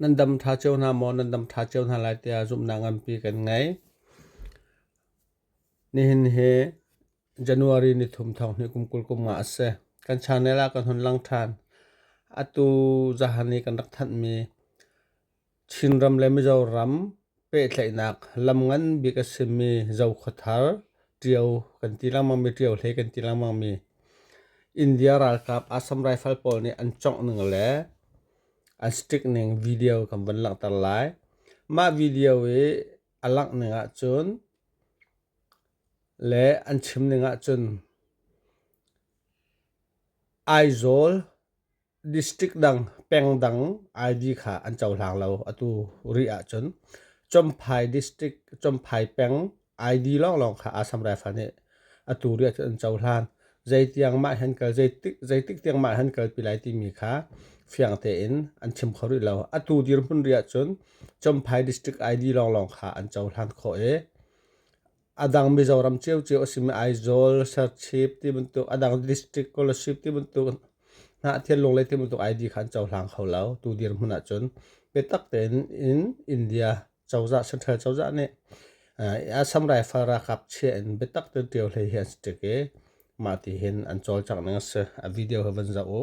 Nan dam ṭha cio hna maw? Nan dam ṭha cio hna lai tiah zumhnak nganpi kan ngei. Nihin hi January ni thum thawng hi kum kul kum nga a si. Kan channel ah kan hun lang ṭhan. Atu zahan i kan rak thanhmi Chinram le Mizoram Pehtlaihnak lam ngan bik a simi Zokhuathar ṭio kan ti lengmangmi, ṭio hlei kan ti lengmangmi India ralkap Assam rifle pawl nih an congh ning le an stick ning video kan van langhter lai. Mah video i a langh ning ahcun le an chim ning ahcun Aizawl District dang pengdang ID kha an cohlang lo. Atu rih ahcun Chomphai District, Chomphai peng ID lawnglawng kha Assam Rifle nih atu rih ahcun an cohlan. Zeitiang mah hen kal, zeitik, zeitik tiang mah hen kalpi lai timi kha fiang tein an chim kho rih lo. Atu dirhmun rih ahcun Chomphai District ID lawnglawng kha an cohlan khawh i adang Mizoram ciocio a simi Aizawl, Serchip ti bantuk adang district scholarship ti bantuk Hnahthel Lunglei ti bantuk ID kha an cohlang kho lo. Tu dirhmun ahcun biatak tein in India cozah central cozah nih Assam Rifle ralkap chia in biatak tein ṭio hlei hi an si ṭik i mah ti hin an cawlcangh ning a si. A video hi van zoh u.